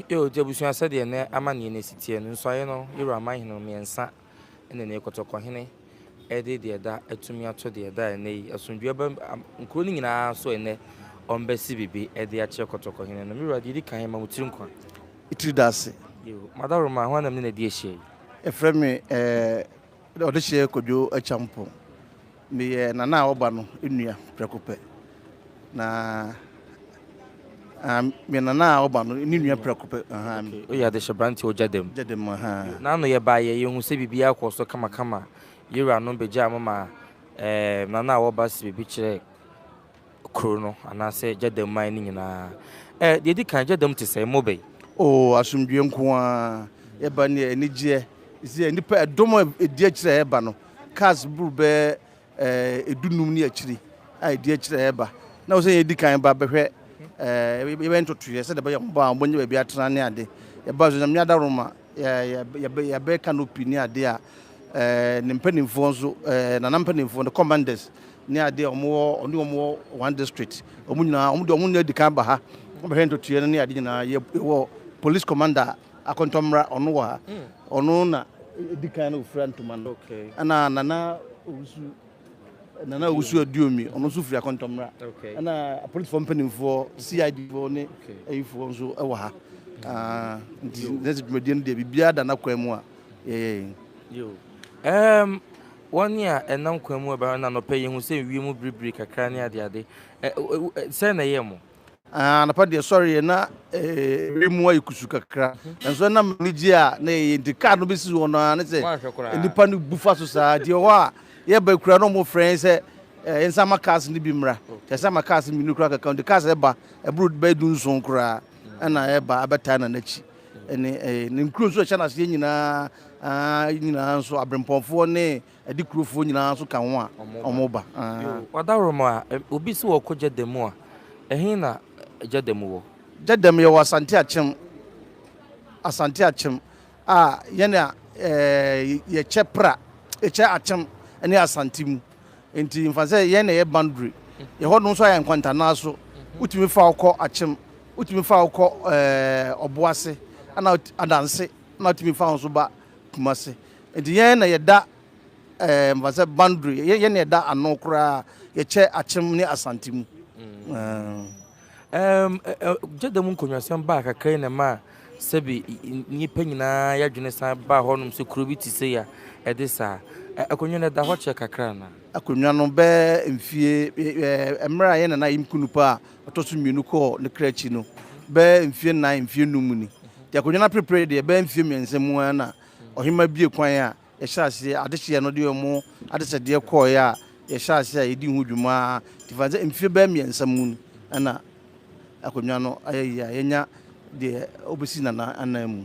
Eo, gye abusua sɛdeɛ nnɛ amanneɛ no asi teɛ no, nsuaeɛ no, Yerua man hene no mmiɛnsa ne ne kɔtɔkɔhene de deɛ ɛda atumi ato deɛ ɛda ɛnnɛ yi asomdwoeɛ aba nkuro no nyina ara so ɛnnɛ, wɔbɛsi bebe de akyerɛ kɔtɔkɔhene no. Me wura, deɛ ɛdi kan, ma wo tiri nkwa. Wo tiri da ase. Eo, madaworoma, hwan na me ne no adi ahyia yi? Yɛfrɛ me eh, Ɔdehyeɛ Kwadwo Akyampong, Meyɛ Nana a ɔba no nua prɛko pɛ. Na ah, meyɛ Nana a ɔba no ne nua prɛko pɛ. Aha. Okay, woyɛ adehyeɛ branteɛ wɔ Gyadam. Gyadam, aha. N'ano yɛbaeɛ, yɛhu sɛ biribiara kɔɔ so kamakama. Yɛwuranom bɛgyaa mo ma eh, Nana a ɔba si biribi kyerɛɛ. kuro no anaasɛ Gyada man no nyinaa. Ɛ, deɛ ɛdi kan, Gyada mu te sɛn? Mo bɛ. Oo, asomdwoeɛ nko ara. Yɛba no yɛ anigyeɛ. Ɛsɛ sɛ nnipa, ɛdɔm a ɛdi akyire a ɛreba no, cars boro bɛyɛ ɛɛ dunum ne akyire a ɛdi akyire a ɛreba. Na ɛwɔ sɛ yɛdi kan ba bɛhwɛ ɛɛ yɛbɛyɛ ntotoeɛ sɛdeɛ ɛbɛyɛ a wɔn ba a wɔnya baabi atena ne ade. Yɛbaa nso Nyame adaworoma. yɛbɛyɛ canopy ne adeɛ a, ɛɛ ne mpanimfoɔ nso, ɛɛ nana mpanimfoɔ, the commanders ne adeɛ a wɔn wɔ ɔne wɔn wɔ one district, wɔn nyinaa wɔn deɛ wɔn nyinaa di kan ba ha, wɔn bɛhwɛ ntotoeɛ no ne adeɛ nyinaa yɛ wɔ police commander akɔntɔmmra ɔno wɔ ha, ɔno na di kan na ofura ntoma no, ɛna nana owusu. Nana Owusu Aduomi, ɔno nso firi Akontɔmmra. Ɛna apolisifoɔ mpanimfoɔ, CID foɔ ne ayifoɔ nso wɔ ha. Nti na sɛ dwumadie no deɛ biribiara da n'akwan mu a yɛyɛ. Um, wɔn a ɛnam kwan mu ɛba na anɔpɛ yɛhu sɛ wiem biribiri kakra ne adeade. Sɛn na ɛyɛ mo? Anɔpa deɛ sɔreɛ na ɛbere mu ayɛ kusu kakra nanso ɛnam anigye a na ɛyɛ nti kaa no bɛsi hɔ no ara ne sɛ nnipa no bu fa so saa nti ɛhɔ a yɛba kura no ɔmo frɛ sɛ nsa ma cars no bi mmra kyɛ sɛ ma cars mmienu koraa kɛkɛ nti cars ɛba ɛboro bɛyɛ du nson koraa ɛna ɛba abɛtaa na n'akyi ɛne ne nkuro nso ɛhyɛ n'aseɛ nyinaa nyinaa nso abirempɔnfoɔ ne Ɛde kurofoɔ nyinaa nso ka ho a wɔba. Wadaworomo a, obi se ɔrekɔ Gyadamu a, ɛhe na Gyadamu wɔ? Gyadamu, yɛwɔ Asante Akyem, Asante Akyem a yɛn a yɛkyɛ Pra, yɛkyɛ Akyem ne Asante mu. Nti mfa no sɛ yɛn na ɛyɛ boundary. Yɛhɔ nom nso ayɛ nkwantanaa so. Wotumi fa wo kɔ Akyem, wotumi fa wo kɔ Ɔboase, ɛna Adanse, ɛna wotumi fa wo nso ba. Kumasi nti yɛn na yɛda ɛɛ mfa sɛ boundary yɛ yɛn na yɛda ano koraa yɛkyɛ akyem ne asante mu. Ɛɛm gyeda mu nkonnwasɛm baa kakra yi na ɛma sɛbi nnipa nyinaa yɛadwene san baa hɔnom sɛ kuro bi te sɛ yi a ɛde saa akonnwa no ɛda hɔ kyɛ kakra anaa? Akonnwa no bɛɛ mfie ɛɛ mmerɛ a yɛn na na yɛn kunupa a Ɔtɔ so mmienu kɔɔ ne kra akyi no, bɛyɛ mfeɛ nnan, mfeɛ nnum mu ni. Nti akonnwa no aperepere deɛ, ɛbɛyɛ mfeɛ mmiɛnsa mu ara na ɔhemmaa bue kwan a yɛhyɛɛ aseɛ adehyeɛ no de wɔn adesɛdeɛ kɔeɛ a yɛhyɛɛ aseɛ a yɛdii ho dwuma ara. Nti fa no sɛ mfeɛ bɛyɛ mmiɛnsa mu ni na akonnwa no ayɛ yie a yɛanya deɛ wobɛsi Nana anan mu.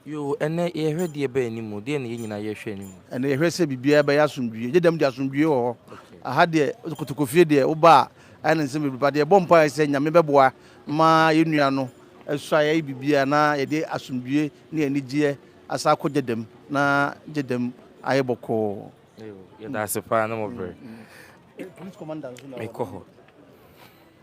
Yoo, ɛnnɛ yɛhwɛ deɛ ɛba anim o, deɛ na yɛn nyinaa yɛhwɛ anim. Ɛnnɛ yɛhwɛ sɛ biribiara bɛyɛ asomdwie, gye dɛm deɛ asomdwie wɔ hɔ. Aha deɛ kotokofie deɛ woba a ayɛ no nsɛm bebree, but yɛbɔ mpaeɛ sɛ Nyame bɛboa ma yɛn nua no asuaeɛ ayɛ biribiara na yɛde asomdwie ne anigyeɛ asan akɔ gye dɛm na gye dɛm ayɛ bɔkɔɔ. Yɛda ase paa ne mo berɛ. Police commander nso na ɔwɔ hɔ.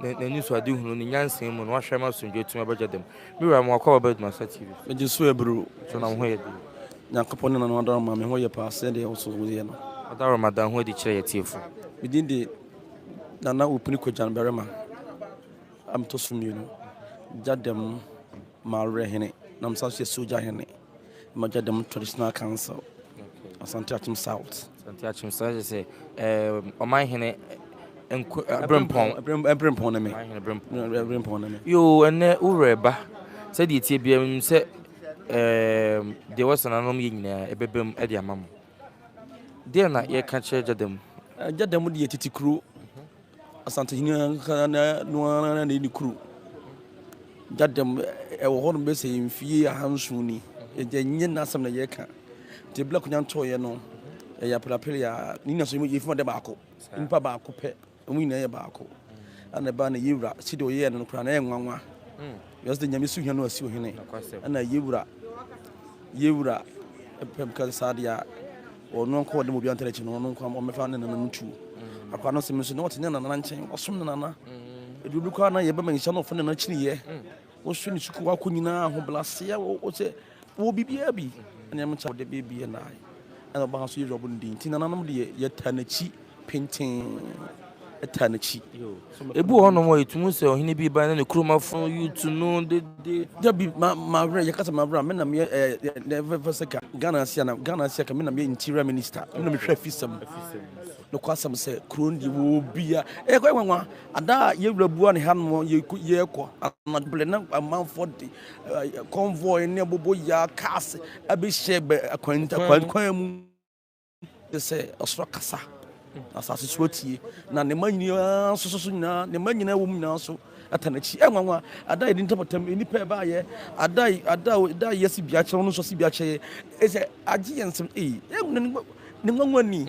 Ne n'anisoadehunu, ne nyansa mu na wahwɛ ma asomdwoe tumi abɛgya dɛm. Me wura, ma w'akwaaba bɛdom asa TV so. Megye so abiriw. So na wo ho yɛ den? Nyankopɔn ne N'adaworoma, me ho yɛ paa sɛdeɛ wo nso woyɛ no. Ɔdaworoma, da wo ho adi kyerɛ y'atiefo. Me din de Nana Opuni Kogyan Barima a metɔ so mmienu. Gya dɛm. Mawerɛ hene na mesan so yɛ sogya hene magya dɛm traditional council asante akyem south asante akyem south kyɛ sɛ ɔman hene brempɔn brempɔn ne me brempɔn ne me yoo ɛnɛ wowerɛ ba sɛdeɛ tie bia m sɛ deɛ wɔsananom yɛ nyinaa ɛbɛbɛ mu ɛde ama mo deɛ na yɛka kyerɛ gyada mu gyada mu deɛ tete kuro Asantehene ankasa no ara na ɛdi kuro gyadam ɛwɔ hɔ nom bɛ sɛ mfie ahanson ni ɛgya nyɛ n'asɛm na yɛka nti bla konya ntɔɔyɛ no ɛyɛ apelapele a ne nyina so yɛfima dɛ baako nipa baako pɛ ɔmo nyinaa yɛ baako ana ɛbaa na yɛwura sɛdeɛ ɔyɛɛ no no koraa na ɛyɛ nwanwa hmm. Wiase de Nyame suhia no asi ohene, ɛna yɛ wura, yɛ wura pɛm ka saa deɛ a, ɔno nkɔ ɔde mu obi antara akyi no, ɔno nkɔ ɔmɛfa ne nana no tu. Akwa no sɛm nso na ɔte ne nana nkyɛn, ɔsom ne nana. Ɛdu bi kɔ a na yɛbɛma nhyia na ɔfa ne nana kyini yɛ. Wɔsɔ ne suku wakɔ nyinaa ho blaseɛ, wɔsɛ Wɔ biribiara bi a na ɛmkyɛ wɔde bebue no ara na ɔbaa nso yɛwura bɔ no din nti nananom deɛ yɛtaa n'akyi pintinn ɛtaa n'akyi. Ebi wɔ hɔnom a yɛtumi sɛ ɔhene bi ba na ne kurom afo yutu no dede. Dabi ma ma werɛ yɛka sɛ ma werɛ a me na meyɛ ɛɛ na ɛfɛ fɛ sɛ ka Ghana ase a na Ghana ase a ka me na meyɛ interior minister me na mehwɛ afisɛm no kɔ asɛm sɛ kuro no deɛ wɔ bia ɛkɔ ɛwanwa ada a yɛwura bua ne hanom yɛkɔ anadwo blɛ na amanfoɔ de convoy ne bobɔ yaa cars abɛhyɛ bɛ akwan akwan kwan mu te sɛ ɔsoro kasa na asase so atie na ne ma nyinaa nso so nyinaa ne ma nyinaa wɔ mu nyinaa nso ata n'akyi ɛnwanwa ada yɛde ntapatam nnipa ɛbaayɛ ada ada da yɛ si bia kyerɛ no nso si bia kyerɛ ɛsɛ agye yɛn nsɛm ee ɛnwanwa ne nwanwa ni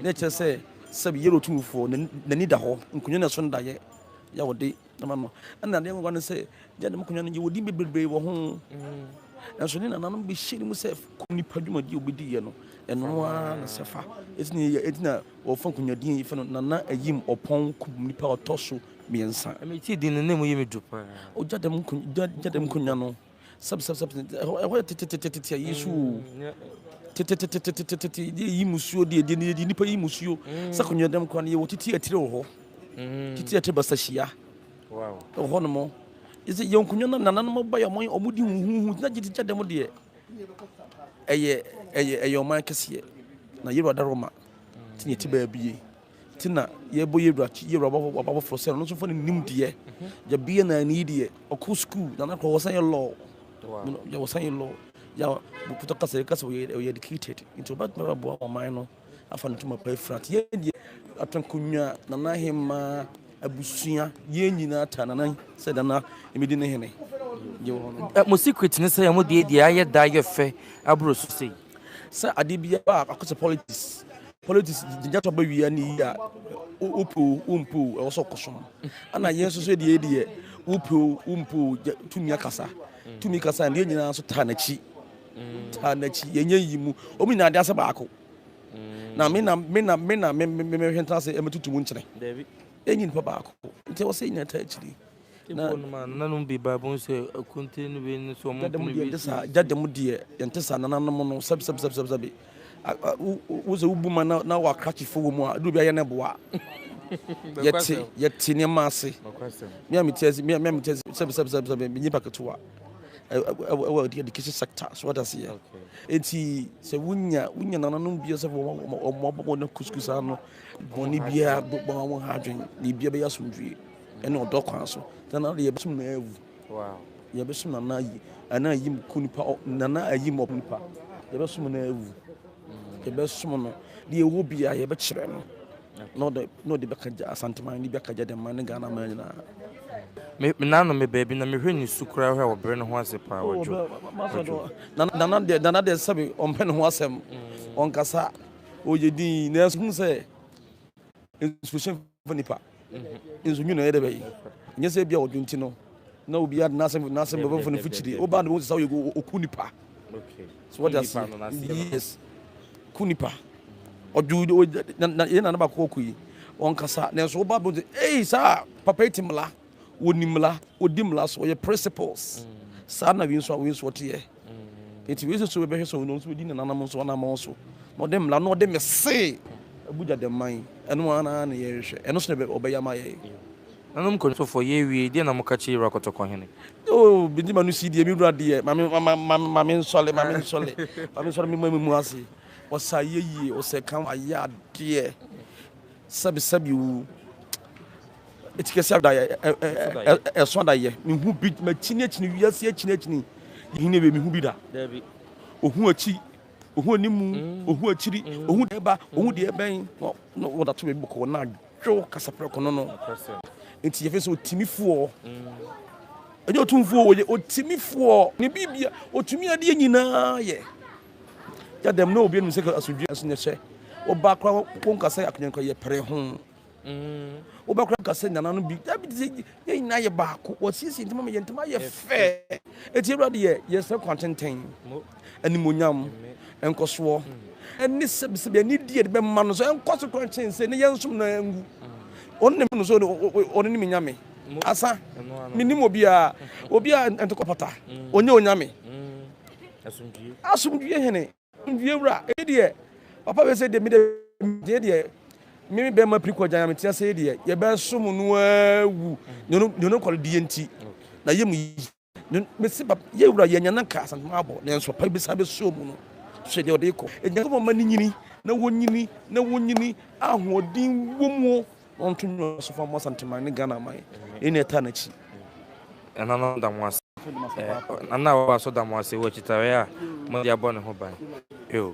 na ɛkyerɛ sɛ sɛ yɛrɛ otumfoɔ n'ani da hɔ nkonnwa na ɛso ndayɛ yɛ wɔde Nana no, ɛna adeɛ nwanwa no sɛ gya dɛm akonnwa no gye wɔdi bebrebe wɔ ho nanso ne nananom bɛhyɛ no mu sɛ kɔ nipa dwumadi a wɔbɛdiiɛ no ɛno ara na sɛ fa ɛti na wɔfa nkonyadeɛ yi fɛ no nana ayim ɔpɔn kum nipa ɔtɔ so mmiɛnsa ɛmɛti din no na mu yɛ me du paa ɔgya dɛm nkonwa no sɛb sɛb sɛb ɛhɔ yɛ tetetetetete ayi so o tetetetetete de yi musuo deɛ deɛ deɛ nipa yi musuo sɛ kɔnyɛ dɛm kora no yɛwɔ titi atire wɔ hɔ titi atire basa hyia wɔ hɔ nom ɛsɛ yɛn nkonnwa no nananom ba yɛ ɔmo ɔmo di huhuhu na gye gya dɛm deɛ ɛyɛ ɛyɛ ɛyɛ ɔman kɛseɛ na yɛwura da roma ti yɛ ti baa bie. nti na yɛbɔ yɛ wura yɛ wura waba foforɔ sɛ ɔno nso fa ne nim deɛ yɛ bia na ne yi deɛ ɔkɔ sukuu na n'akɔ wɔsan yɛ lɔɔ yɛ wɔsan yɛ lɔɔ yɛ bukutɔ kasa yɛ kasa ɔyɛ ɔyɛ educated nti ɔba tuma bɛ boa ɔman no afa ne tuma pa efura te yɛ deɛ atankonwa nana ahema abusua yɛ nyinaa ta nana sɛ nana emedi ne hene. mo secret ne sɛ yɛ mo deɛ deɛ ayɛ da ayɛ fɛ aburo so sei. sɛ ade biara a akɔsɛ politics politics gyingyatɔ ba wia ne yi a wopoo wompoo ɛwɔ sɛ ɔkɔsom ana yɛn nso so deɛ deɛ wopoo wompoo tumi akasa tumi kasa ne yɛn nyinaa nso taa n'akyi taa n'akyi yɛnyɛ yi mu ɔmu nyinaa de asɛ baako na me na me na me na me me me hwɛ ntena sɛ ɛmɛtutu mu nkyerɛ ɛnyi nipa baako nti ɛwɔ sɛ yɛnyina taa akyiri Mpo no ma nananom bi ba bun sɛ akuntin no bi ne sɛ wɔn mpene bi si. Gya dɛm deɛ yɛnte saa nananom no sɛbi sɛbi sɛbi sɛbi sɛbi wo sɛ wobu ma na wɔ akrakyefo wɔ mu a ɛduru bi ayɛ no boa yɛte yɛte nneɛma ase me a mete ase me a mete ase sɛbi sɛbi sɛbi sɛbi menye pa ketewa ɛwɔ education sector so wata se yɛ eti sɛ wonya wonya nananom bi sɛ wɔn wɔn wɔn wɔn kuskus ano bɔnne biara bɔn wɔn ha adwene ne biara bɛyɛ asomdwie. Ɛne ɔdɔ kwan so. Nana de yɛbɛsom na awu. Yɛbɛsom nana ayi ɛna ayim ku nipa nana ayim ɔpo nipa. Yɛbɛsom na awu. Yɛbɛsom no de ɛwɔ bi a yɛbɛkyerɛ no. Na ɔde na ɔde bɛka gya asanteman ne bɛka gya dɛmma ne Ghana man nyinaa. Me me nano me baabi na mehwɛ ne su koraa hwɛ ɔbrɛ ne ho ase paa oh, ɔdwo. Nana deɛ nana deɛ sɛbe ɔmpɛ ne ho asɛm. Ɔnkasa ɔyɛ din nanso hu sɛ inspiration nipa nso nwi na ɛyɛ dɛ bɛyi nyɛ sɛ ebi a ɔdwo nti no na obi ade n'asɛm n'asɛm bɛbɔ fo ne fo kyiri oba no sɛ ɔyɛ oku nipa so wɔde ase yes ku nipa ɔdwo yɛ na ne baako ɔku yi ɔnkasa nanso oba no sɛ ei saa papa yi te mmla wɔnim mmara wɔdi mmara so wɔyɛ principles saa na wei nso a wei nso ɔteɛ nti wei nso bɛbɛhwɛ sɛ ɔno nso bɛdi nananom nso anammɔn so na ɔde mmara na ɔde mese abugya dɛ man ɛno ara na yɛrehwɛ ɛno so na ɔbɛyɛ ama yɛn nanom nkɔnsofoɔ yɛwie deɛ na moka kyerɛ wura kɔtɔkɔ hene oh bindi ma no si deɛ me wura deɛ ma me nsɔle ma me nsɔle ma me nsɔle me ma me mu ase ɔsa yɛ yie ɔsɛ kan ayɛ adeɛ sɛbisɛbi wu Etikɛse adaeɛ ɛso adaeɛ mehu bi makyini akyini wiase akyini akyini yɛhene wei mehu bi da ohu akyi ohu animu mm. ohu akyiri mm. ohu deɛ ɛba ohu deɛ ɛbɛn na wɔda to baabi bɔkɔɔ na adwo kasaprɛ kɔno no nti yɛfɛ sɛ ɔtumi foɔ mm. ɛnyɛ ɔtumfoɔ wɔyɛ ɔtumi foɔ ne biribia ɔtumi adeɛ nyinaa yɛ yɛdɛm na obi anim sɛ asodwe aso nyɛ hyɛ ɔba koraa wɔnka sɛ akonyɛnkɔ yɛ pere ho Wo ba kura kasa nyana no bi. Dabi de yɛ nyina yɛ baako. Wɔ siesie ntama ma yɛ ntama yɛ fɛ. Eti Awurade yɛ yɛ sɛ kwan tenten. Animonyam, nkɔsoɔ, ɛne sɛbisɛbi ɛne di yɛde bɛma no so ɛnkɔ so kwan kyɛn sɛ ne yɛn som no ɛngu. Ɔno na no so ɔno ne me nyame. Asa me nim obi a obi a ntokɔ pata. Onye onyame. Asomdwie hene. Ndue wura, emi deɛ papa wei sɛ deɛ mede deɛ deɛ me me bɛma piri kɔgyan me tia sɛ deɛ yɛbɛsom no awu ne no ne no kɔdeɛ nti na yɛ mu yi mesi papa yɛ wura yɛ nyana ka asantuma abɔ ne nso pa bisa bɛsuo mu no so deɛ ɔde kɔ ɛnyɛ sɛ wɔma ne nyini na wɔnyini na wɔnyini ahoɔden wɔ mu Ɔnto nnwom wɔ Asɔfo Amoa Asantehene ne Ghana aman yɛn nua taa n'akyi. Ɛnanom da mo ase. Ɛna a wɔwɔ so da mo ase wɔ akyitaeɛ a mode abɔ ne ho ban. Eww.